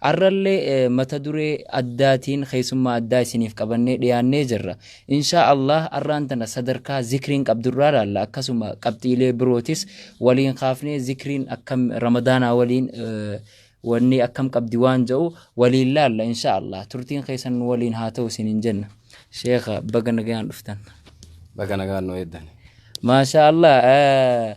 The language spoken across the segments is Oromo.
Arrallee mata duree addaatiin keessummaa addaa isiniif qabannee dhiyaannee jirra. Inshaa Allaah arraan tana sadarkaa zikriin qabdurraa laalla akkasuma qabxiilee birootis waliin kaafnee zikriin akkam ramadaanaa waliin wanni akkam qabdi waan ja'u waliin laalla inshaa Allaah turtiin keessan nu waliin haa ta'u isiniin jenna. Sheekha baga nagayaan dhuftan. Baga nagaan nu eeddani. Maashaa Allaah.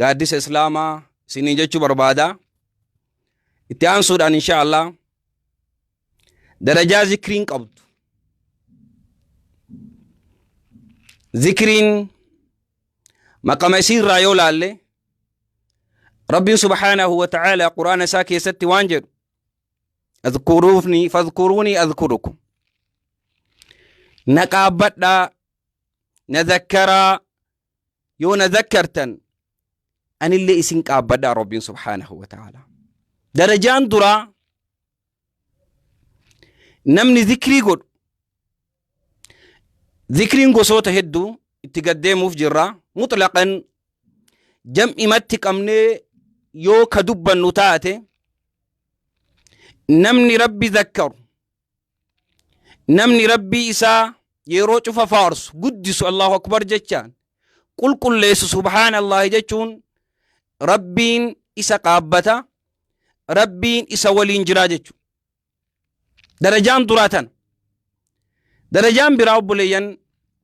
gaaddisa islaamaa isiniin jechuu barbaada itti aansuudhaan insha allah darajaa zikriin qabdu zikriin maqama isiirraa yoo laalle rabbiin subhaanahu wa ta'aalaa quraana isaa keessatti waan jedhu adkuruufni fadkuruuni adkurukum na qaabbadhaa na zakkaraa yoo na zakkartan anillee isin qaabbadha rabbiin subhaanahu wa ta'ala darajaan duraa namni zikrii godhu zikriin gosoota hedduu itti gaddeemuuf jirra mutlaqan jam'imatti qabnee yoo ka dubbannu taate namni rabbi zakkaru namni rabbii isaa yeroo cufa faarsu guddisu allahu akbar jechaan qulqulleessu subhaanallaahi jechuun rabbiin isa qaabbata rabbiin isa waliin jiraa jechu darajaan duraa tana darajaan biraa obboleeyyan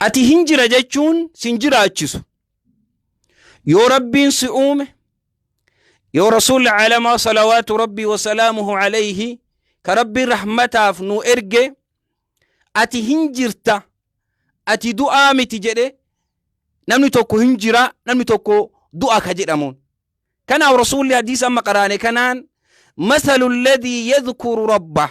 Ati hin jira jechuun sin jiraachisu. Yoo Rabbiin si uume, yoo Rasuulli Alamaa Salawaatu Rabbii Wasalaamuhu Alayhi ka Rabbiin rahmataaf nu erge, ati hin jirta, ati du'aa miti jedhe, namni tokko hin jira, namni tokko du'a ka jedhamuun. Kanaaf Rasuulli hadiisa amma qaraane kanaan, masalu alladhii yadhkuru rabbah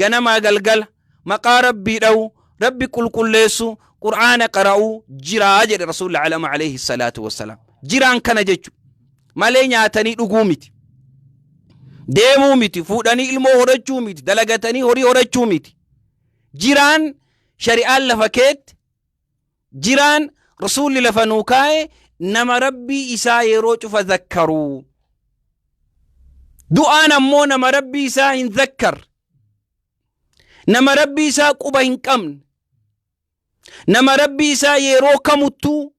ganamaa galgala maqaa rabbii dha'u rabbi qulqulleessu qur'aana qara'u jiraa jedhe rasuulli alama alayhi salaatu wassalaam jiraan kana jechu malee nyaatanii dhuguu miti deemuu miti fuudhanii ilmoo horachuu miti dalagatanii horii horachuu miti jiraan shari'aan lafa keetti jiraan rasuulli lafa nuu kaa'e nama rabbii isaa yeroo cufa zakkaruu du'aan ammoo nama rabbii isaa hin zakkar nama rabbii isaa quba hin qabne nama rabbii isaa yeroo kamuttuu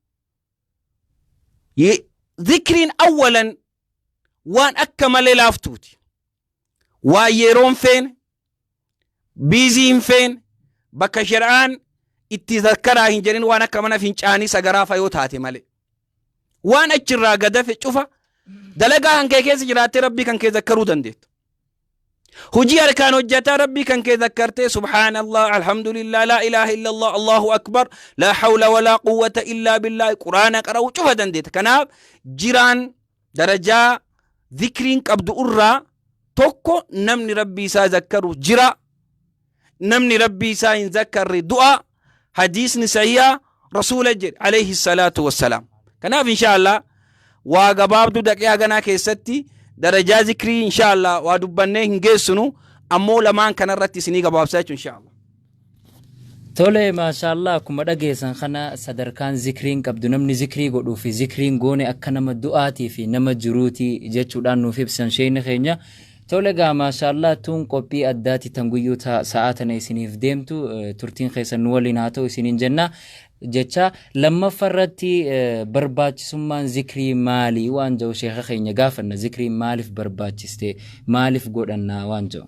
ye- zikriin awwalan waan akka malee laaftuuti waa yeroo hin feene biizii hin feene bakka shari'aan itti zakkaraa hin jedhin waan akka mana fincaanii sagaraa fa yoo taate malee waan achirraa gadafe cufa dalagaa kan kee keessa jiraattee rabbii kan kee zakkaruu dandeettu hojii harkaan hojjataa rabbii kan kee zakkartee subhaanallah alhamdulillah laa ilaaha illallah allahu akbar laa hawla walaa quwwata illaa billaahi quraana qara'uu cufa dandeetta kanaaf jiraan darajaa zikriin qabdu irraa tokko namni rabbii isaa zakkaru jira namni rabbii isaa hin zakkarre du'a hadiisni sahiha rasuula jedhe alayhi salaatu wassalaam kanaaf inshaallah waa gabaabdu daqiiqaa ganaa keessatti darajaa zikrii inshaallah waa dubbannee hin geessinu ammoo lamaan kanarratti isinii gabaabsaa jechuun inshaallah Tole maashaallah akkuma dhageessan kana sadarkaan zikriin qabdu namni zikrii godhuu fi zikriin goone akka nama du'aatii fi nama jiruuti jechuudhaan nuuf ibsan sheeyni keenya. Tole egaa maashaallah tuun qophii addaati tan guyyuu ta- sa'aa tana isiniif deemtu eh, turtiin keessan nu waliin haa ta'u isiniin jenna. Jecha lammaffa irratti eh, barbaachisummaan zikrii maali waan jedhu sheeka keenya gaafanna zikriin maaliif barbaachiste maaliif godhanna waan jedhu.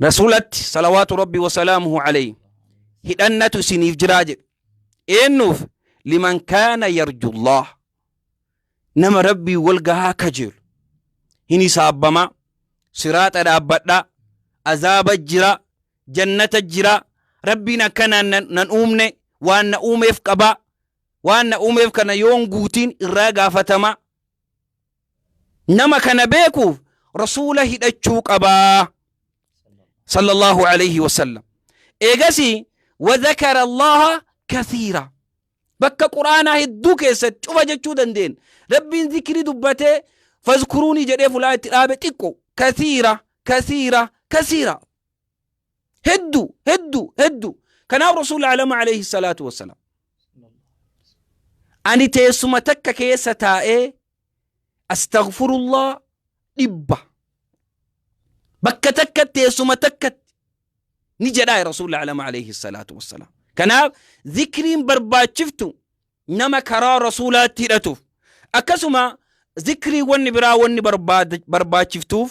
Rasuulatti salawaatu rabbi wasalaamuhu alayhi hidhannatu isiniif jiraa jedhe eennuuf liman kaana yarjullah nama rabbii wal gahaa kajeelu hin hisaabbamaa siraaxa dhaabbadhaa azaaba jira jannata jira rabbiin akkanaan nan, nan uumne waan na uumeef qabaa waan na uumeef kana yoon guutiin irraa gaafatamaa nama kana beekuuf rasuula hidhachuu qabaa sallallahu alayhi wasallam eegasi wadhakara allaha kathiira bakka quraanaa hedduu keessatti cufa jechuu dandeen rabbiin zikrii dubbatee fazkuruunii jedhee fulaa itti dhaabe xiqqo kathiira kathiira kathiira heddu heddu heddu kanaaf rasuul alama alayhi salaatu wassalaam ani teessuma takka keessa taa'ee astaghfirullah dhibba bakka takka teessuma takkatti ni jedhaa rasuul alama alayhi salaatu wassalaam kanaaf zikriin barbaachiftu nama karaa rasuulaatti hidhatuuf akkasuma zikrii wanni biraa wanni barbaachiftuuf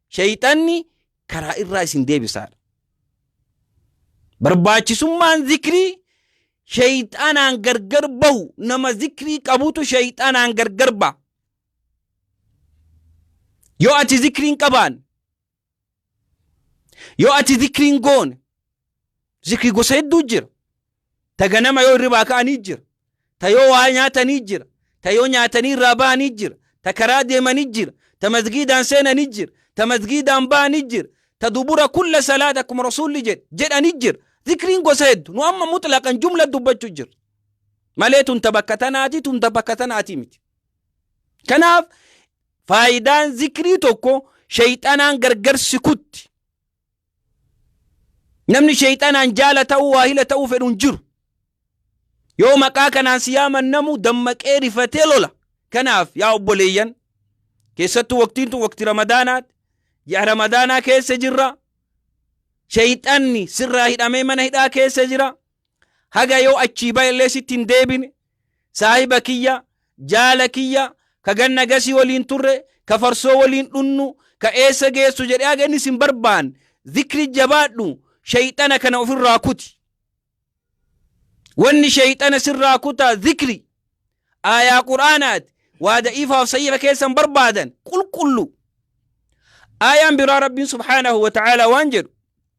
Sheyxanni karaa irraa isin deebisaadha. Barbaachisummaan zikrii sheyxanaan gargar bahu nama zikrii qabutu sheyxanaan gargar baha. Yoo ati zikriin qabaan, yoo ati zikriin goone, Zikri gosa hedduu jira. Ta ganama yoo hirribaa ka'anii jira. Ta yoo waa nyaatanii jira. Ta yoo nyaatanii irraa bahanii jira. Ta karaa deemanii jira. Ta masgiidaan seenanii jira. Ta masgiidaan bahanii jira. Ta dubura kulla salaat akkuma rasuulli jedhe jedhanii jira. Zikriin gosa heddu. Nu amma mutlaqan jumla dubbachuu jira. Malee tun ta bakka tanaati tun ta bakka tanaati miti. Kanaaf faayidaan zikrii tokko shayxanaan gargar si kutti. Namni sheeyxanaan jaala ta'uu waahila ta'uu fedhu hin jiru. Yoo maqaa kanaan si yaaman namu dammaqee rifatee lola. Kanaaf yaa obboleeyyan keessattuu waqtiin tun waqti ramadaanaati. Ji'a ramadaanaa keessa jirra. Sheeyxanni sirraa hidhamee mana hidhaa keessa jira. Haga yoo achii ba'ellee sitti hin deebine Saahiba kiyya, jaala kiyya, ka ganna gasii waliin turre, ka farsoo waliin dhunnu, ka eessa geessu jedhee haga inni sin barbaan zikri jabaadhu shayxana kana ofirraa kuti. Wanni shayxana sirraa kutaa zikri aayaa quraanaati waa da'iifaaf sahiifa keessan barbaadan qulqullu. Aayaan biraa Rabbiin subhaanahu wa ta'aalaa waan jedhu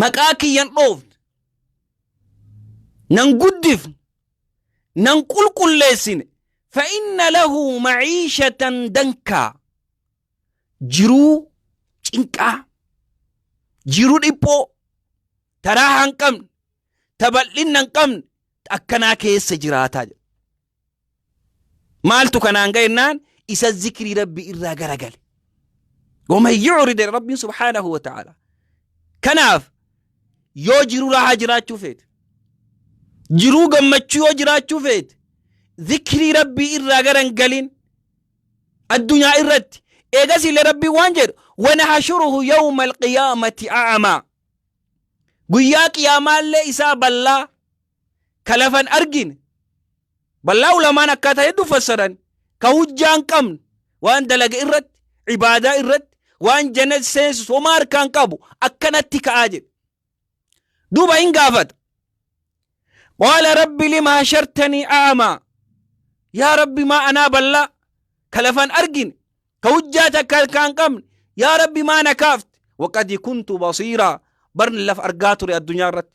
maqaa kiyyan dhoofne nan guddifne nan qulqulleessine fa'inna lahu maciishatan dankaa jiruu cinqaa jiruu dhiphoo taraa hin qabne tabal'inna hin qabne akkanaa keessa jiraataa jira. maaltu kanaan ga'e jennaan isa zikrii rabbi irraa garagale waman yu'rid rabbiin subhaanahu wa ta'ala kanaaf yoo jiruu raahaa jiraachuu feete jiruu gammachuu yoo jiraachuu feete zikrii rabbii irraa garan galin addunyaa irratti eegas illee rabbiin waan jedhu wanahashuruhu yawma alqiyaamati a'amaa guyyaa qiyaamaallee isaa ballaa ka lafa hin argine ballaa ulamaan akkaataa hedduu fassaran ka hujjaa hin qabne waan dalage irratti ibaadaa irratti waan jannat seensus homaa harkaa hin qabu akkanatti ka'aa jedhe duuba hin gaafata qaala rabbi lima hashartanii a'amaa yaa rabbi maa anaa ballaa ka lafa hin argine ka hujjaa takka harkaa hin qabne yaa rabbi maa na kaafte waqad kuntu basiiraa barni lafa argaa ture addunyaa irratti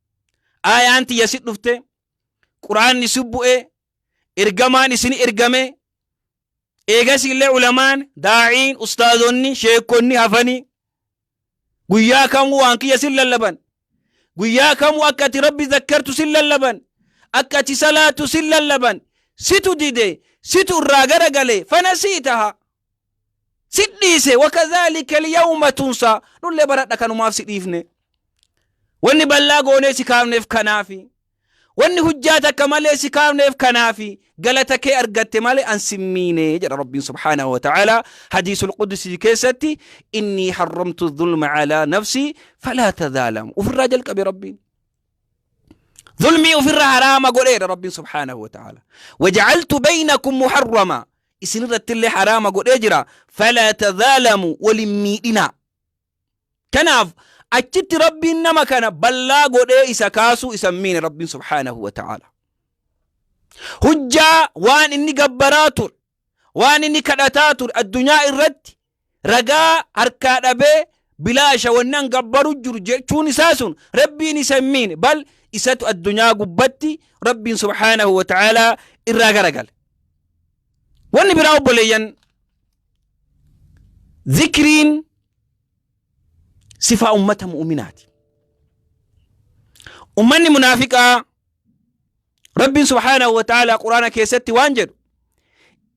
aayaan tiyya si dhufte quraanni si bu'e ergamaan isin ergame eegasiillee ulamaan daa'iin ustaazonni sheekonni hafanii guyyaa kamuu waan kiyya sin lallaban guyyaa kamuu akka ati rabbi zakkartu sin lallaban akka ati salaatu sin lallaban situ dide situ irraa garagale fana sii taha si dhiise wakadhaalika alyawma tunsaa nullee baradha kanumaaf si dhiifne wanni ballaa goonee si kaafneef kanaafi wanni hujjaa takka malee si kaafneef kanaafi galata kee argatte malee an sin miine jedha rabbiin subhaanahu wata'aalaa hadiisul qudusii keessatti innii harramtu dhulma calaa nafsii falaa tadhaalamu ufirraa jalqabe rabbiin dhulmii ufirra haraama godheedha rabbiin subhaanahu wata'aalaa wajacaltu baynakum muharramaa isin irratti illee haraama godhee jira falaa tazaalamu walin miidhinaa kanaaf achitti rabbiin nama kana ballaa godhee isa kaasuu isan miine rabbiin subhaanahu wa ta'aala hujjaa waan inni gabbaraa ture waan inni kadhataa ture addunyaa irratti ragaa harkaa dhabee bilaasha wanni an gabbaru jiru jechuun isaa sun rabbiin isa hin miine bal isatu addunyaa gubbatti rabbiin subhaanahu wa ta'aalaa irraa garagale wanni biraa obboleeyyan zikriin sifaa ummata mu'uminaati ummanni munaafiqaa rabbiin subhaanahu wa ta'aalaa quraana keessatti waan jedhu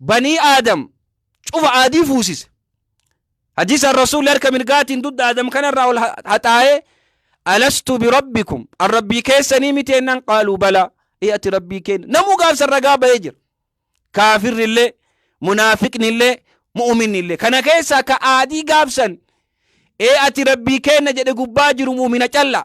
banii aadam cufa aadii fuusise hadiisaan rasuulli harka mirgaatiin dugda aadam kanarraa ol ha- haxaa'ee alastu birabbikum an rabbii keessanii miti ennaan qaaluu balaa ee ati rabbii keenya namuu gaafsan ragaa ba'ee jira kaafirri illee munaafiqni illee mu'uminni illee kana keessaa ka aadii gaafsan ee ati rabbii keenya jedhe gubbaa jiru mu'umina callaa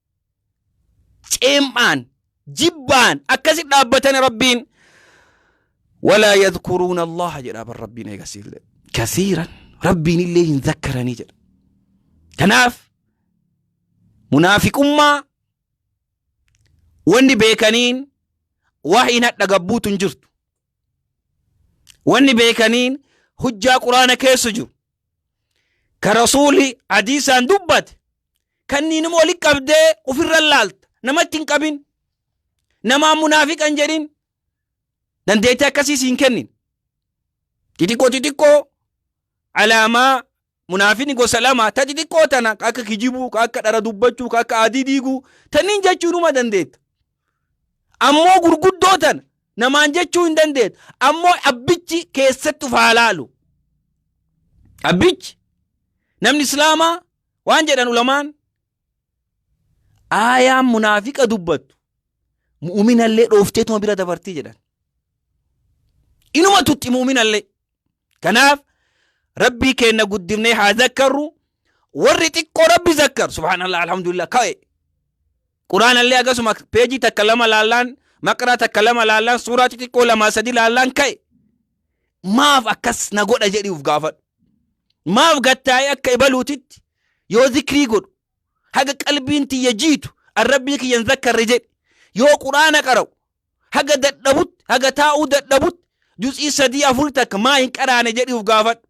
ceem'aan jibbaan akkasi dhaabbatani rabbiin walaa yadkuruuna allaha jedha bar rabbiin eegasiillee kasiiran rabbiin illee hin zakkaranii jedha kanaaf munaafiqummaa wanni beekaniin wahiin hadha gabbuutu hin jirtu wanni beekaniin hujjaa quraana keessa jiru ka rasuuli hadiisaan dubbate kanniin immoo walitti qabdee ofirra laalta namatti hin qabin namaan munaafiqa hin jedhin dandeettii akkasiis hin kennin xixiqqoo xixiqqoo alaamaa munaafini gosa lama ta xixiqqoo tana ka akka kijibuu ka akka dhara dubbachuu ka akka adii diiguu tanniin jechuunuma dandeetta Ammoo gurguddoo tana namaan jechuu hin dandeettu. Ammoo abbichi keessatti of haa laalu. Abbichi namni islaamaa waan jedhan ulamaan aayaan munaafiqa dubbattu mu'uminallee dhoofteetuma bira dabartii jedhan. Inuma tutti mu'uminallee. Kanaaf rabbii keenna guddifnee haa zakkarru warri xiqqoo rabbi zakkar subhaanallah alhamdulillah ka'e Quraanallee akkasuma peejii takka lama laallaan maqraa takka lama laallaan suuraa xixiqqoo lamaa sadi laallaan ka'e maaf akkas na godha jedhi uf gaafadhu. Maaf gattaa'ee akka ibaluutitti yoo zikrii godhu haga qalbiin tiyya jiitu an rabbii kiyyan zakkarre jedhi yoo quraana qara'u haga dadhabutti haga taa'uu dadhabutti juz'ii sadii afur takka maa hin qaraane jedhi uf gaafadhu.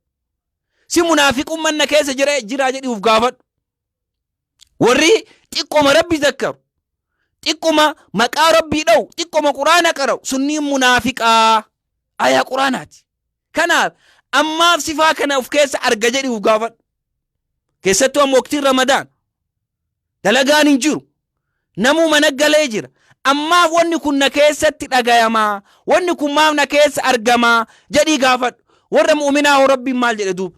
Si munaafiqumman na keessa jira jira jedhi uf gaafadhu. warri xiqqoma rabbi zakkaru xiqquma maqaa rabbii dha'u xiqquma quraana qara'u sunniin munaafiqaa ayaa quraanaati kanaaf ammaaf sifaa kana of keessa arga jedhi uf gaafadhu keessattuu amma waqtiin ramadaan dalagaan hin jiru namuu mana galee jira ammaaf wanni kun na keessatti dhagayamaa wanni kun maaf na keessa argamaa jedhii gaafadhu warra mu'uminaa hoo rabbiin maal jedhe duuba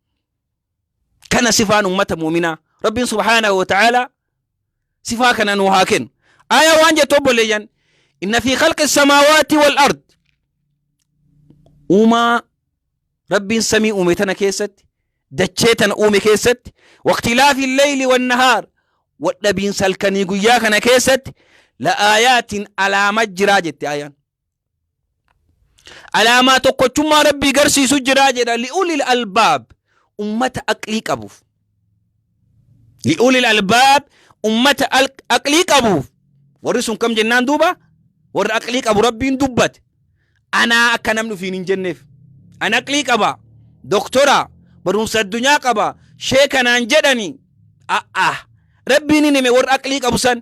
kana sifaan ummata mu'minaa rabbiin subhaanahu wa ta'aalaa sifaa kana nuu haa kennu aayaa waan jettu obboleeyyan inna fi khalqi samaawaati wal ard uumaa rabbiin samii uume tana keessatti dachee tana uume keessatti waqtilaafi leyli wannahaar wadhabiinsa halkanii guyyaa kana keessatti la aayaatiin alaama jiraa jette aayaan alaamaa tokkochummaa rabbii garsiisu jiraa jedha li'ulil albaab ummata aqlii qabuuf li'ulil albaab ummata aqlii qabuuf warri sun kam jennaan duuba warra aqlii qabu rabbiin dubbate anaa akka namni ofiin hin jenneef an aqlii qaba doktora barumsa addunyaa qaba sheekanaan jedhani a'a rabbiin hin hime warra aqlii qabu san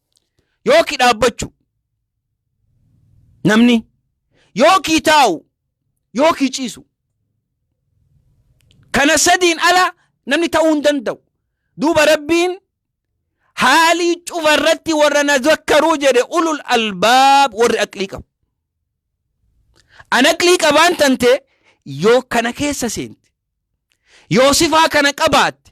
yooki dhaabbachu namni yookii taa'u yookii ciisu kana sadiin ala namni ta'uu hin danda'u duuba rabbiin haalii cufa irratti warra na zakkaruu jedhe ulul albaab warri aqlii qabu an aqlii qabaan tante yoo kana keessa seente yoo sifaa kana qabaatte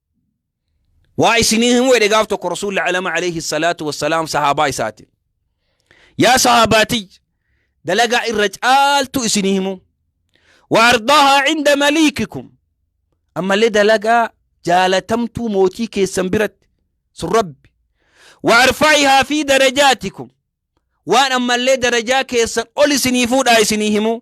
waa isinii himuu jedhe gaaf tokko rasuulli alama alayhi salaatu wassalaam sahaabaa isaati yaa sahaabaatiy dalagaa irra caaltu isinii himuu wa ardaahaa cinda maliikikum ammallee dalagaa jaalatamtuu mootii keessan biratti sun rabbi wa arfaa'ihaa fi darajaatikum waan ammallee darajaa keessan ol isinii fuudhaa isinii himuu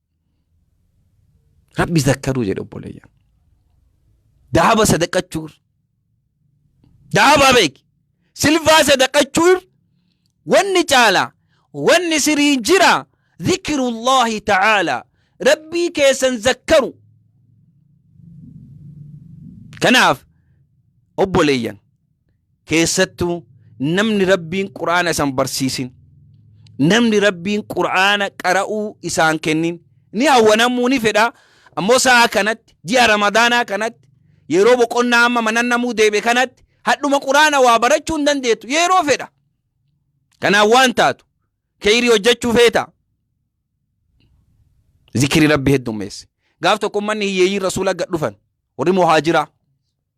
Rabbi zakkaruu jedhe obboleeyyan. Daaba sadaqachuu irra. Daaba beeki. Silvaa sadaqachuu irra. Wanni caala. Wanni sirii jira. Zikirullahi ta'aala. Rabbii keessan zakkaru. Kanaaf obboleeyyan keessattuu namni rabbiin qur'aana isan barsiisin namni rabbiin qur'aana qara'uu isaan kennin ni hawwanamuu ni fedha ammoo sa'a kanatti ji'a ramadaanaa kanatti yeroo boqonnaa amma manannamuu deebe kanatti hadhuma qur'aana waa barachuu hin dandeettu yeroo fedha kanaan waan taatu keeyrii hojjechuu feeta zikiri rabbi heddummeesse gaaf tokko ummanni hiyyeeyyiin rasuula gad dhufan warri muhaajiraa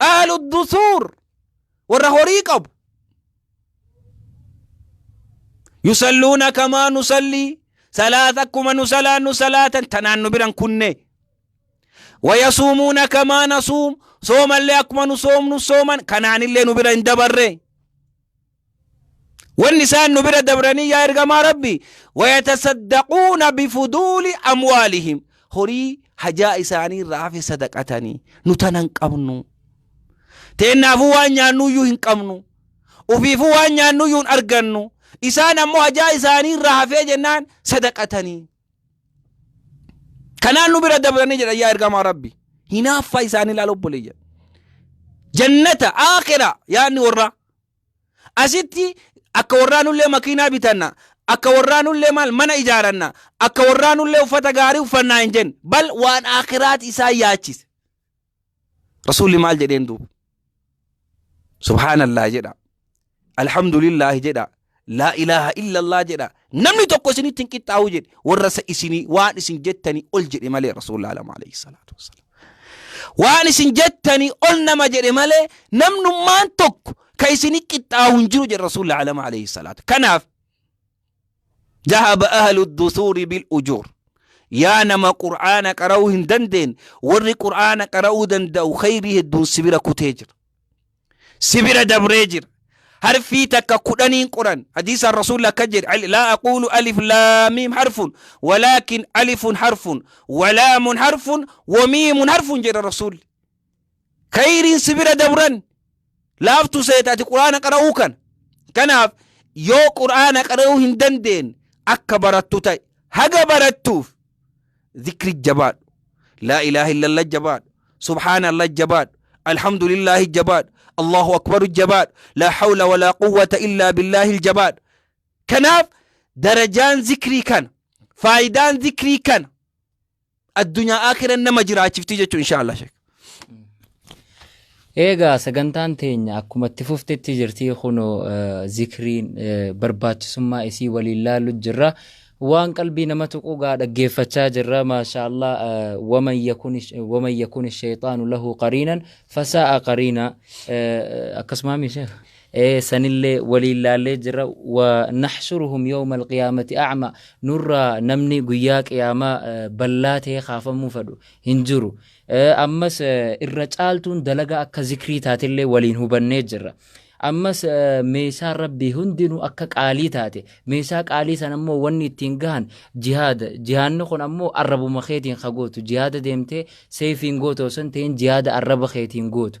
aalu dusuur warra horii qabu yusalluuna kamaa nusallii salaata akkuma nu salaannu salaatan tanaan nu biran kunne wayasuumuuna kamaa nasuum soomallee akkuma nu soomnu sooman kanaanillee nu bira hin dabarre Wanni isaan nu bira dabranii yaa ergamaa Rabbii wayatasaddaquuna bifuduuli amwaalihim horii hajaa isaanii irraa hafe sadaqatanii nu tana hin qabnu teennaafuu waan nyaannuyyuu hin qabnu ufiifuu waan nyaannuyyuu hin argannu isaan ammoo hajaa isaanii irraa hafee jennaan sadaqatanii kanaan nu bira dabranii jedhan yaa ergamaa Rabbii hinaaffaa isaanii laal obbolee jedha jannata aakira yaadni warraa Asitti akka warraa nullee makiinaa bitanna, akka warraa nullee maal mana ijaaranna, akka warraa nullee uffata gaarii uffannaa hin jenne. Bal waan aakiraati isaan yaachise. Rasuulli maal jedheen duuba? Subhaanallah jedha. Alhamdulillah jedha. Laa ilaaha illallah jedha namni tokko isinitti hin qixxaawu jedhe warra isa isinii waan isin jettanii ol jedhe malee rasuulli alama alayhi salaatu wassalaam. Waan isin jettanii ol nama jedhe malee namnummaan tokko ka isini qixxaawu hin jiru jedhe rasuulli alama alayhi salaatu. Kanaaf jahaba ahlu dusuuri bil ujuur. Yaa nama qur'aana qara'uu hin dandeenye warri qur'aana qara'uu danda'u khayrii hedduun sibira kutee jira. si bira dabree jira harfii takka kudhaniin qoran hadiisaan rasuulli akka jedhe laa aquulu alif laamiim harfun walaakin alifun harfun walaamun harfun wamiimun harfun jedha rasuulli kayriin si bira dabran laaftu seeta ati quraana qara'uu kana kanaaf yoo quraana qara'uu hin dandeenye akka barattu ta'e haga barattuuf zikri jabaadhu laa ilaaha illallah jabaadhu subhaana allah jabaadhu alhamdulillaahi jabaadhu allahu akbaru jabaadhu laa hawla walaa quwwata illaa billaahi jabaadhu kanaaf darajaan zikrii kana faayidaan zikrii kana addunyaa akhiran nama jiraachifti jechuun insha Allah sheekh Eegaa sagantaan teenya akkuma itti fuftetti jirti kunoo zikriin barbaachisummaa isii waliin laalu jirra. Waan qalbii nama tuqu gaa dhaggeeffachaa jirra maashaallah waman yakun shayxaanu lahu qariinan fasaa'a qariina akkasumaa misheef. sanillee waliin laallee jirra wa naxshuruhum yawma alqiyaamati acma nurraa namni guyyaa qiyaamaa ballaa ta'ee kaafamuu fedhu hin jiru. Ammas irra caaltuun dalagaa akka zikrii taatellee waliin hubannee jirra. Ammas meeshaan rabbii hundinuu akka qaalii taate meeshaa qaalii san ammoo wanni ittiin gahan jihaada jihaanni kun ammoo arrabuma keetiin ka gootu jihaada deemtee seefiin gootu osoo hin ta'in jihaada arraba keetiin gootu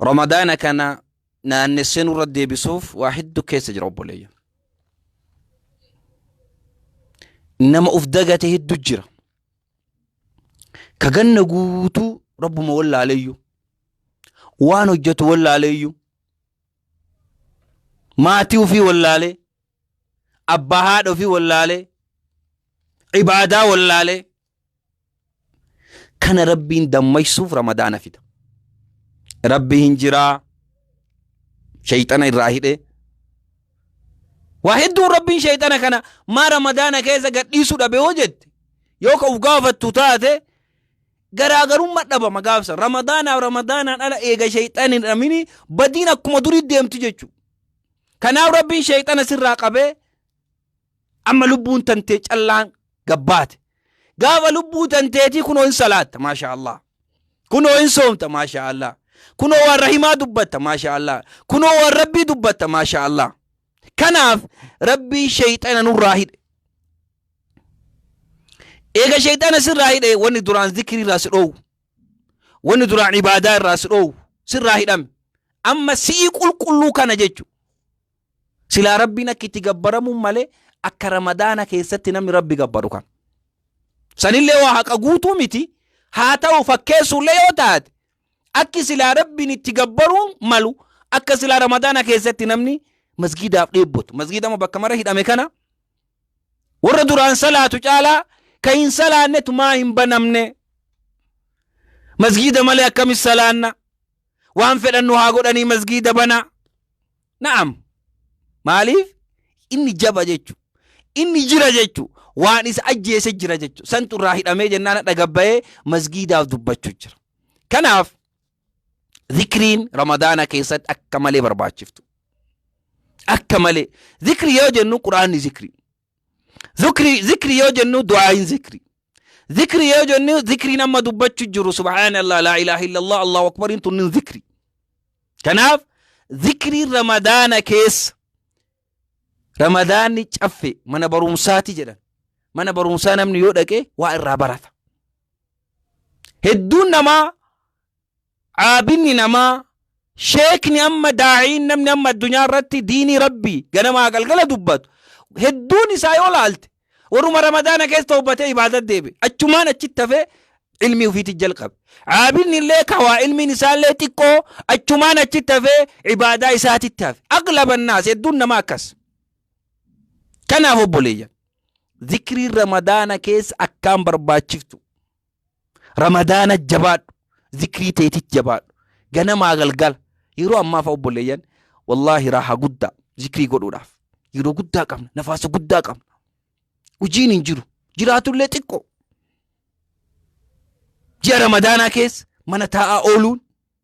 Ramadaana kana naannessee nurra deebisuuf waa hedduu keessa jira obboleeyya. Nama of dagate hedduu jira. Ka ganna guutuu rabbuma wallaaleeyyu. Waan hojjetu wallaaleeyyu. Maatii ofii wallaalee. Abbaa haadha ofii wallaalee. Ibaadaa wallaalee. Kana Rabbiin dammaysuuf Ramadaana fida. Rabbi hin jiraa. Shayxana irraa hidhee. Waa hedduun Rabbiin shayxana kana maa Ramadaana keessa gadhiisuu dhabe hoo jette. Yoo ka uf gaafattu taate garaagarumma dhabama gaafsa. Ramadaanaaf Ramadaanaan ala eega shayxan hin dhamini badiin akkuma durii deemti jechuudha. Kanaaf Rabbiin shayxana sirraa qabee amma lubbuun tantee callaan gabbaate gaafa lubbuu tanteetii kunoo hin salaatta maashaa allah kunoo hin soomta maashaa allah kunoo waan rahimaa dubbatta maashaa allah kunoo waan rabbii dubbatta maashaa allah kanaaf rabbii sheeyxana nurraa hidhe eega sheeyxana sirraa hidhe wanni duraan zikrii irraa si dhoowwu wanni duraan ibaadaa irraa si dhoowwu sirraa hidhame amma si'ii qulqulluu kana jechu Silaa Rabbiin akka itti gabbaramuun malee akka Ramadaana keessatti namni Rabbi gabbaru kan. Sanillee waa haqa guutuu miti haa ta'u fakkeessuullee yoo taate akki silaa Rabbiin itti gabbaruun malu akka silaa Ramadaana keessatti namni masgiidaaf dheebbotu. Masgiidama bakka mara hidhame kana warra duraan salaatu caalaa kan hin salaannetu maa hin banamne. Masgiida malee akkamis salaanna? Waan fedhannu haa godhanii masgiida banaa. Na'am. Maaliif? Inni jaba jechu. Inni jira jechu. Waan isa ajjeese jira jechu. Santu irraa hidhamee jennaan hadha gabbayee masgiidaaf dubbachu jira. Kanaaf zikriin ramadaana keessatti akka malee barbaachiftu. Akka malee. Zikri yoo jennu quraanni zikri. Zikri, zikri yoo jennu du'aayin zikri. Zikri yoo jennu zikriin amma dubbachu jiru subhaanallah laa ilaaha illallah allahu akbariin tunnin zikri. Kanaaf zikriin ramadaana keessa ramadaanni caffe mana barumsaati jedhan. Mana barumsaa namni yoo dhaqe waa irraa barata. Hedduun namaa Aabidni namaa, sheekni amma daa'iin namni amma addunyaa irratti diinii Rabbii ganamaa galgala dubbatu hedduun isaa yoo laalte warruma ramadaana keessa tawbatee ibaadat deebi'e achumaan achitti hafee ilmii ufiitti jalqabe. Aabidni illee kawaa ilmiin isaa illee xiqqoo achumaan achitti hafee ibaadaa isaatitti hafe. Aglaban naas hedduun namaa akkas. Kanaaf obboleeyyan zikriin ramadaana keessa akkaan barbaachiftu. Ramadaana jabaadhu. Zikrii teetit jabaadhu. Ganamaa galgala. Yeroo ammaa fa'a obboleeyyan wallaahi raaha guddaa zikrii godhuudhaaf. Yeroo guddaa qabna. Nafaasa guddaa qabna. Hojiin hin jiru. Jiraatullee xiqqoo. Ji'a Ramadaanaa keessa mana taa'aa ooluun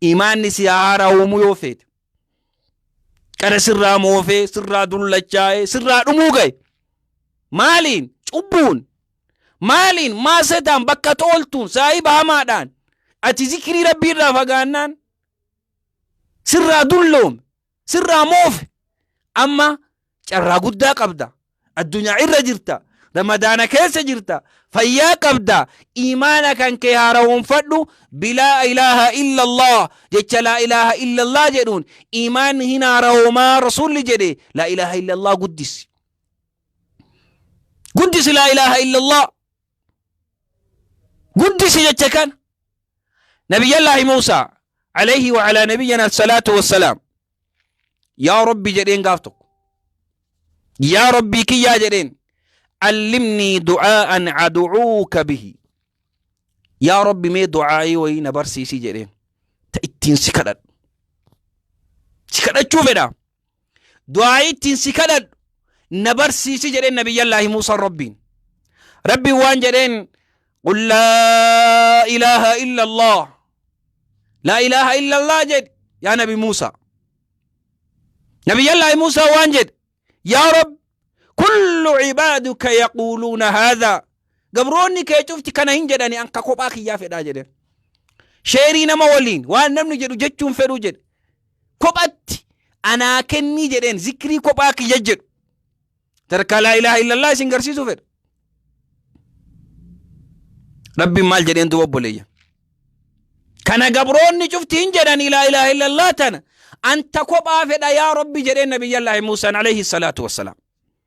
Imaanni si haa haaraawwamu yoo feete. Qara sirraa moofee, sirraa dullachaa'ee, sirraa dhumuu ga'e. Maaliin? Cubbuun. Maaliin? Maasetaan bakka tooltuun, saahiba hamaadhaan. Ati zikirii rabbiirraa fagaannaan sirraa dulloome. Sirraa moofe. Amma carraa guddaa qabda. Addunyaa irra jirta. Ramadaana keessa jirta. Fayyaa qabda. Iimaana kan kee haarawoonfadhu. Bilaa ilaaha illallah. Jecha laa ilaaha illallah jedhuun iimaanni hin haarawoomaa rasuulli jedhe laa ilaaha illallah guddisi. Guddisi laa ilaaha illallah. guddisi jecha kana nabiyyallaahi muusaa alayhi wa alaa nabiyyina salaatu wassalaam yaa rabbi jedheen gaaf tokko yaa rabbii kiyyaa jedheen allimnii du'aa'an adu'uuka bihi yaa rabbi mee du'aa'ii wayii na barsiisii jedheen ta ittiin si kadhadhu si kadhachuu fedha du'aa'ii ittiin si kadhadhu na barsiisi jedheen nabiyyallaahi muusaan rabbiin rabbiin waan jedheen qul laa ilaaha illa allah laa ilaaha illa allah jedhe yaa nabi muusaa nabiyyallaahi muusaa waan jedhe yaa rabbi kullu cibaaduka yaquuluuna haadhaa Gabroonni kee cufti kana hin jedhani an ka kophaa kiyyaa fedhaa jedhe. Sheerii nama waliin waan namni jedhu jechuun fedhuu jedhe. Kophatti anaa kennii jedheen zikrii kophaa kiyya jedhu. Sadarkaa laa ilaaha illallah isin garsiisuu fedha. Rabbiin maal jedheen duuba obboleeyya. Kana gabroonni cufti hin jedhani laa ilaaha illallah tana anta kophaa fedha yaa Rabbi jedheen nabiyyallaahi Muusaan alayhi salaatu wassalaam.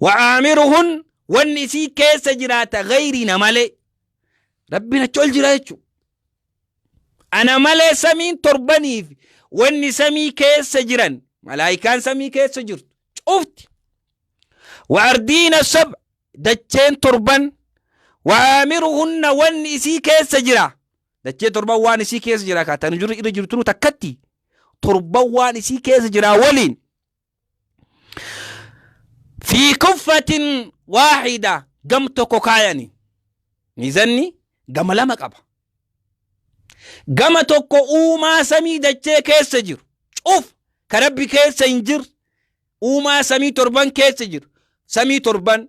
wa'aamiruhun wanni isii keessa jiraata gayriina malee rabbiin achi ol jira jechu ana malee samiin torbaniif wanni samii keessa jiran malaayikaan samii keessa jirtu cufti wa'ardiina sab dacheen torban wa'aamiruhunna wanni isii keessa jira dachee torban waan isii keessa jira ka tan jirru irra jirtunu takkatti torban waan isii keessa jira waliin fi kuffatin waahida gam tokko kaayani miizanni gama lama qaba gama tokko uumaa samii dachee keessa jiru cuf ka rabbi keessa hin jiru uumaa samii torban keessa jiru samii torban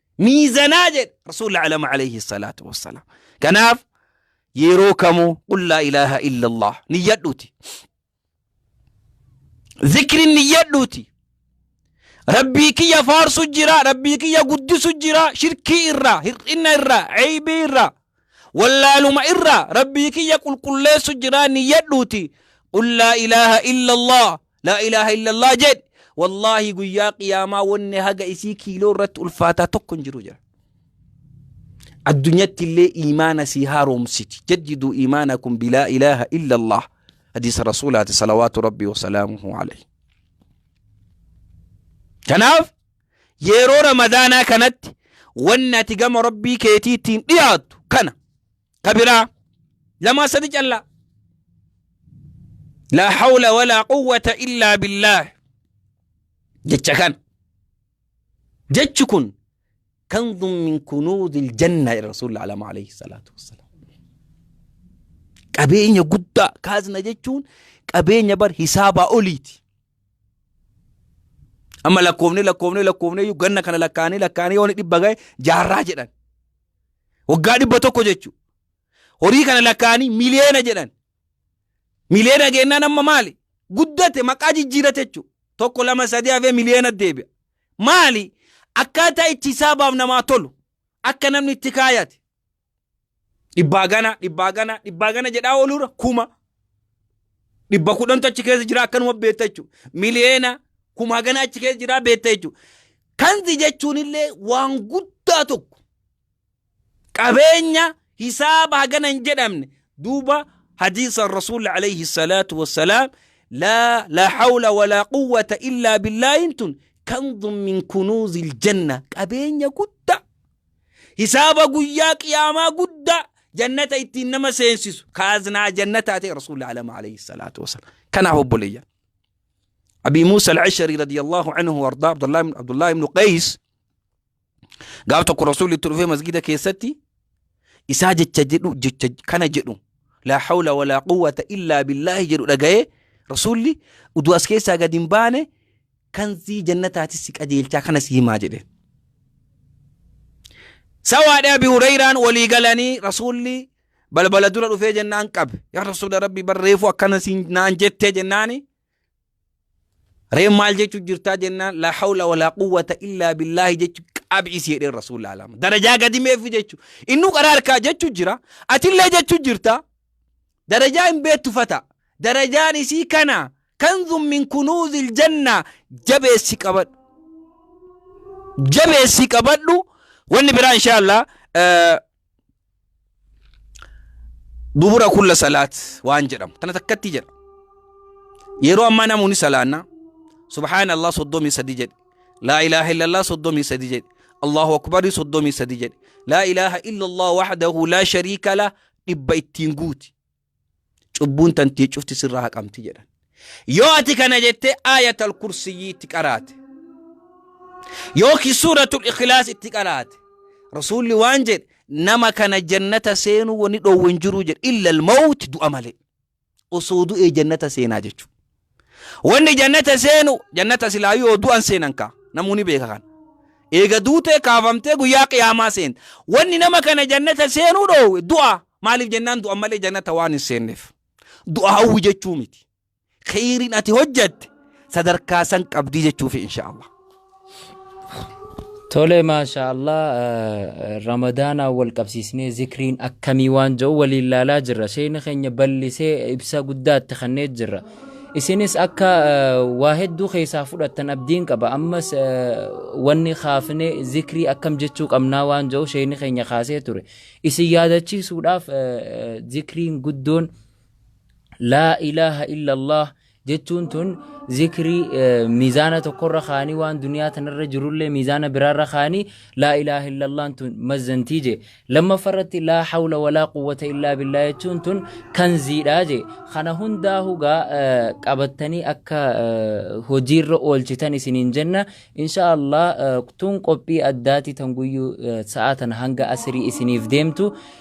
miizanaa jedhe rasuulli alama alayhi salaatu wassalaam kanaaf yeroo kamuu qul laa ilaaha illa allah niyyadhuuti zikrin niyyadhuuti rabbii kiyya faarsu jira rabbii kiyya guddisu jira shirkii irraa hir'ina irraa ceeybii irraa Wallaaluma irraa Rabbii kiyya qulqulleessu jiraa niyyadhuuti. Qul laa ilaaha illallah. Laa ilaaha illallah jedhi. Wallaahi guyyaa qiyaamaa wanni haga isii kiiloo irratti ulfaataa tokko hin jiru jira. Addunyatti illee imaana sii haaromsiti. Jaddidu imaanakum bilaa ilaaha illallah. Hadiisa Rasuulaati salawaatu Rabbii wasalaamuhu alayhi. Kanaaf Yeroo Ramadaanaa kanatti wanni ati gama Rabbii keetii ittiin dhiyaattu kana. Ka biraa lamaa sadi callaa. Laa hawla walaa quwwata illaa billaah. Jecha kana. Jechi kun kanzun min kunuuzil jannaa jedha Rasuulli Alama alayhi salaatu wassalaam. Qabeenya guddaa kaazna jechuun qabeenya bar hisaabaa oliiti. Amma lakkoofnee lakkoofnee lakkoofnee iyyuu ganna kana lakkaa'anii lakkaa'anii yooni dhibba ga'e jaarraa jedhan. Waggaa dhibba tokko jechuudha. Horii kana lakkaa'anii miliyoona jedhan. Miliyoona geennaan amma maali? Guddate maqaa jijjiirate jechuudha. Tokko lama sadii hafee miliyoona deebi'a. Maali? Akkaataa itti saabaaf namaa tolu. Akka namni itti kaayate. Dhibbaa gana, dhibbaa gana, dhibbaa gana jedhaa ooluura kuma. Dhibba kudhantu achi keessa jira akkanuma beekta jechuudha. Miliyeena kumaa gana achi keessa jira beekta jechuudha. Kanzi jechuun illee waan guddaa tokko qabeenya hisaaba hagana hin jedhamne duuba hadiisa rasuulli alayhi salaatu wassalaam laa laa hawla walaa quwwata illaa billaahin tun kanzun min kunuuzil janna qabeenya guddaa Hisaaba guyyaa qiyaamaa guddaa jannata ittiin nama seensisu kaaznaa jannataa ta'e rasuulli alama alayhi salaatu wasalaam. Kanaaf obboleeyyan. Abii Muusa al-Ashari radiyallahu anhu wardaa Abdullahi ibnu Qays gaaf tokko rasuulli itti dhufee masgida keessatti isaa jecha jedhu jecha kana jedhu laa hawla walaa quwwata illaa billaahi jedhu dhaga'ee rasuulli uduu as keessaa gad hin baane kanzii jannataati si qajeelchaa kana si himaa jedheen. Sawaadha Abi Hureyraan walii galanii Rasuulli balbala dura dhufee jennaan qabe. Yaa Rasuula Rabbi bar reefuu akkana siin naan jettee jennaani. Reen maal jechuu jirtaa jennaan laa hawla walaa quwwata illaa billaahi jechu qabi isii jedheen Rasuulli alama. Darajaa gadi meefi jechu. Innuu qaraa harkaa jechu jira. Atillee jechu jirta. Darajaa hin beettu fata. Darajaan isii kana kanzun min kunuuzil janna jabeessi qabadhu. Jabeessi qabadhu wanni biraa inshaallah eh, dubura kulla salaat waan jedhamu tana takkatti jedha. Yeroo ammaa namoonni salaannaa subhaana Allah soddomii sadii jedhe laa ilaaha illallah soddomii sadii jedhe Allahu akbarii soddomii sadii jedhe laa ilaaha illallah wahdahu laa shariika lah dhibba ittiin guuti. Cubbuun tantee cufti sirraa haqamti jedhan. Yoo ati kana jettee aayatal kursiyyii itti qaraate. Yookiin suuratul ikhlaas itti qaraate. Rasuulli waan jedhe nama kana jannata seenuu wani dhoowwe hin jiruu jedhe illal mawuti du'a malee. osoo du'ee jannata seenaa jechu wanni jannata seenu jannata silaa yoo du'an seenan kaa namuu ni beeka kan eega duutee kaafamtee guyyaa qiyaamaa seent wanni nama kana jannata seenuu dhoowwe du'a maaliif jennaan du'an malee jannata waan hin seenneef du'a hawwi jechuu miti kheyriin ati hojjatte sadarkaa san qabdii jechuufi insha Allah Tole maashaa Allah eh, Ramadaanaan wal qabsiisnee zikriin akkamii waan jedhu waliin laalaa jirra. Sheeyni keenya bal'isee ibsa guddaa itti kennee jirra. Isinis akka eh, waa hedduu keessaa fudhattan abdiin qaba. Ammas eh, wanni kaafnee zikrii akkam jechuu qabnaa waan jedhu sheeyni keenya kaasee ture. Isin yaadachiisuudhaaf eh, eh, zikriin guddoon laa ilaaha illallah jechuun tun zikrii miizaana tokkorra kaanii waan duniyaa tanarra jirullee miizaana biraarra kaanii laa ilaaha illallaan tun mazzantii jee lammaffarratti laa hawla walaa quwwata illaa billaa jechuun tun kanziidha jee kana hundaa hugaa qabattanii akka hojiirra oolchitan isiniin jenna insha allah tun qophii addaati tan guyyuu sa'aa tana hanga asirii isiniif deemtu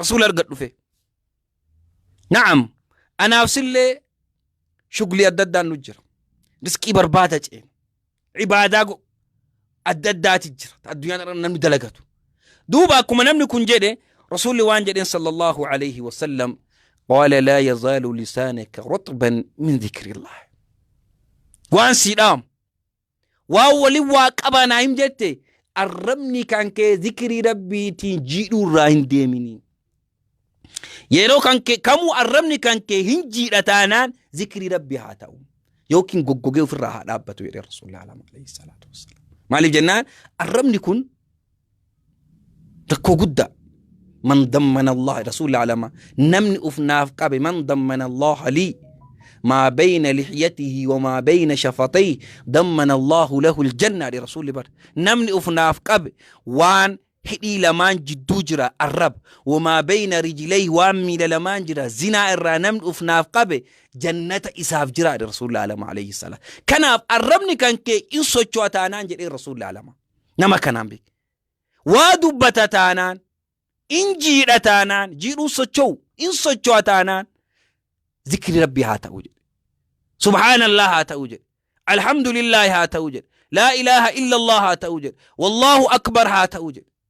rasuula argadhufe na'am anaaf sillee shuglii adda addaan nu jira risqii barbaada ceena ibaadaa go- adda addaati jira ta addunyaan irra namni dalagatu duuba akkuma namni kun jedhe rasuulli waan jedheen sallallahu alayhi wasallam qaala laa yazaalu lisaanaka rutban min dhikrillah waan sii dhaamu Waan waliin waa qabaa naa him jette arrabni kan kee zikirii rabbiitiin jiidhuu irraa hin deemini. Yeroo kan kee kamuu arrabni kan kee hin jiidha taanaan zikirii rabbi haa ta'u. Yookiin goggogee ofirraa haa dhaabbatu jedhee rasuulli alama alayhi salaatu wassalaam. Maaliif jennaan arrabni kun rakkoo guddaa man dammana allah rasuulli alama namni uf naaf qabe man dammana allah lii maa bayna lixyatihi wamaa bayna shafatayhi dammana allahu lahu ljanna dhe rasuulli bar namni uf naaf qabe waan hidhii lamaan jidduu jira arrab wamaa bayna rijlayhi waan miila lamaan jira zinaa irraa namni uf naaf qabe jannata isaaf jira dhe rasuulli alama alayhi salaam kanaaf arrabni kan kee in socho'a taanaan jedhee rasuulli alama Nama kanaan beeki. Waa dubbata taanaan, in jiidha taanaan, jiidhuun socho'u, in socho'a taanaan, zikri rabbii haa ta'u jedhe. Subhaanallah haa ta'u jedhe. Alhamdulillah haa ta'u jedhe. Laa ilaaha illallah haa ta'u jedhe. Wallahu akbar haa ta'u jedhe.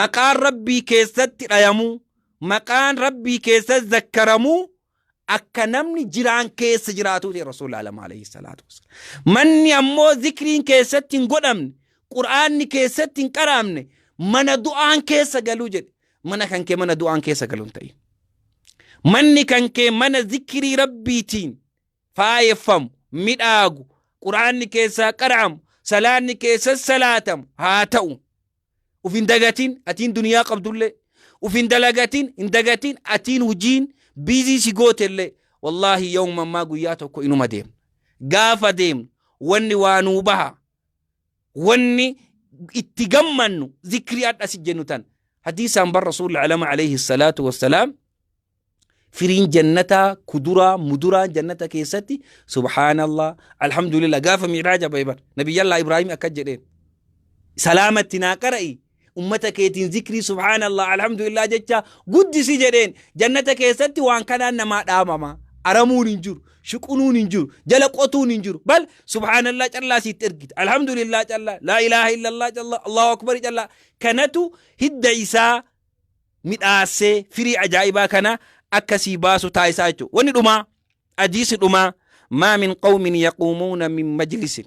maqaan rabbii keessatti dhayamuu maqaan rabbii keessatti zakkaramuu akka namni jiraan keessa jiraatuu ta'e rasuul alama alayhi salaatu wassalaam manni ammoo zikriin keessatti hin godhamne qur'aanni keessatti hin qaraamne mana du'aan keessa galuu jedhe mana kan kee mana du'aan keessa galuu hin ta'in manni kan kee mana zikrii rabbiitiin faayeffamu, midhaagu, qur'aanni keessaa qara'amu, salaanni keessas salaatamu haa ta'u. Uf hin dagatin atiin duniyaa qabdullee. Uf hin dalagatin hin dagatin atiin hujiin biizii si gootellee. Wallaahi yawma ammaa guyyaa tokko inuma deemna. Gaafa deemnu wanni waa nuu baha wanni itti gammannu zikrii adha si jennu tan hadiisaan bar rasuulli alama alayhi salaatu wassalaam firiin jannataa kuduraa muduraan jannata keessatti subhaanallah alhamdulillah gaafa miiraaja bahe bar nabiyyallaa ibraahim akkas jedheen salaamatti naa qara'i ummata keetiin zikrii subhaanallah alhamdulillah jecha guddisi jedheen jannata keessatti waan kanaan namaa dhaamama aramuun hin jiru shuqunuun hin jiru jala qotuun hin jiru bal subhaanallah callaa siitti ergita alhamdulillah callaa laa ilaaha illallah callaa allahu akbar callaa kanatu hidda isaa midhaasee firii ajaa'ibaa kana akka sii baasu taasisaa jechuudha wanni dhumaa hadiisi dhumaa maa min qawmin yaquumuuna min majlisin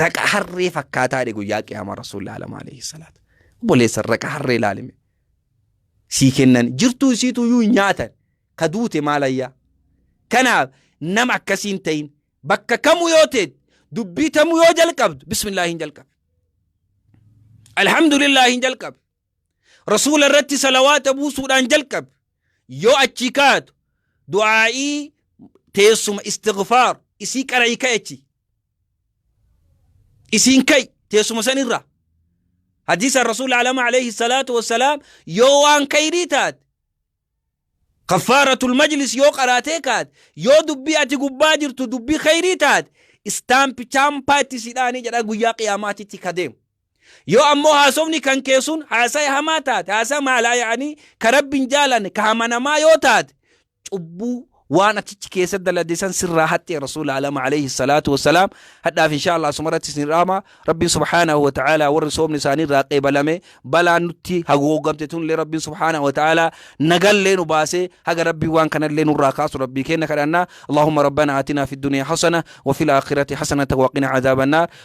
Raqa harree fakkaataadhe guyyaa qiyaamaa rasuulli alama alayhi salaatu. Obboleessan raqa harree ilaalime. Sii kennan jirtuu isiitu iyyuu hin nyaatan. Ka duute maalayyaa. Kanaaf nama akkasii hin ta'in. Bakka kamuu yoo ta'e dubbii tamuu yoo jalqabdu bismillaahi hin jalqabe. Alhamdulillaahi hin jalqabe. Rasuula irratti salawaata buusuudhaan jalqabi. Yoo achii kaatu du'aa'ii teessuma istighfaar isii qara'ii ka'i achi. Isiin ka'i teessuma sanirraa. Hadiisa Rasuula Alama alayhi salaatu wassalaam yoo waan kayrii taate kaffaaratul majlis yoo qaraatee kaate yoo dubbii ati gubbaa jirtu dubbii kayrii taate istaampi chaampaa itti sidhaanii jedha guyyaa qiyaamaatitti ka deemu. Yoo ammoo haasofni kan kee sun haasaya hamaa taate, haasaya maalaa yaa'anii ka Rabbi hin jaalanne, ka hamanamaa yoo taate, cubbuu waan achichi keessa dalade san sirraa haxxee Rasuul Aalam alayhi salaatu wassalaam hadhaaf inshaa Allah asuma irratti isin dhaama Rabbiin subhaanahu wa ta'ala warri soomni isaanii irraa qeebalame balaan nutti haguugamte tunillee Rabbiin subhaanahu wa ta'ala nagallee nu baasee haga Rabbii waan kanallee nurraa kaasu Rabbii kenna kadhannaa Allahumma rabbana atina fid dunya hasana wa fil akhirati hasanatan wa qina adhaban nar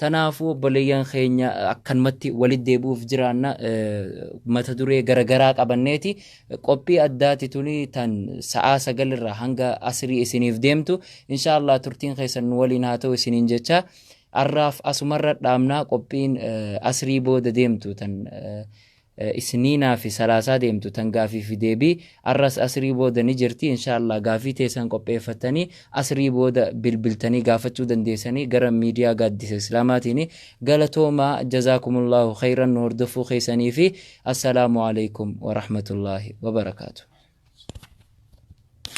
Tanaafuu obboleeyyan keenya akkanumatti walitti deebi'uuf jiraanna mata duree garagaraa qabanneeti. Qophii addaati tuni tan sa'aa sagal irraa hanga asrii isiniif deemtu. Inshaa Allah turtiin keessan nu waliin haa ta'u isiniin jecha. Arraaf asumarra dhaabnaa qophiin asrii booda deemtu tan isniinaafi salaasaa deemtu tan gaafiifi deebii arras asrii booda ni jirti inshaallaah gaafii teessan qopheeffattanii asrii booda bilbiltanii gaafachuu dandeessanii gara miidiyaa gaaddisa islaamaatiini galatoomaa jazaakumullaahu kheeyran nu hordoffuu keeysaniifi assalaamu aleykum warahmatullaahi wabarakaatuh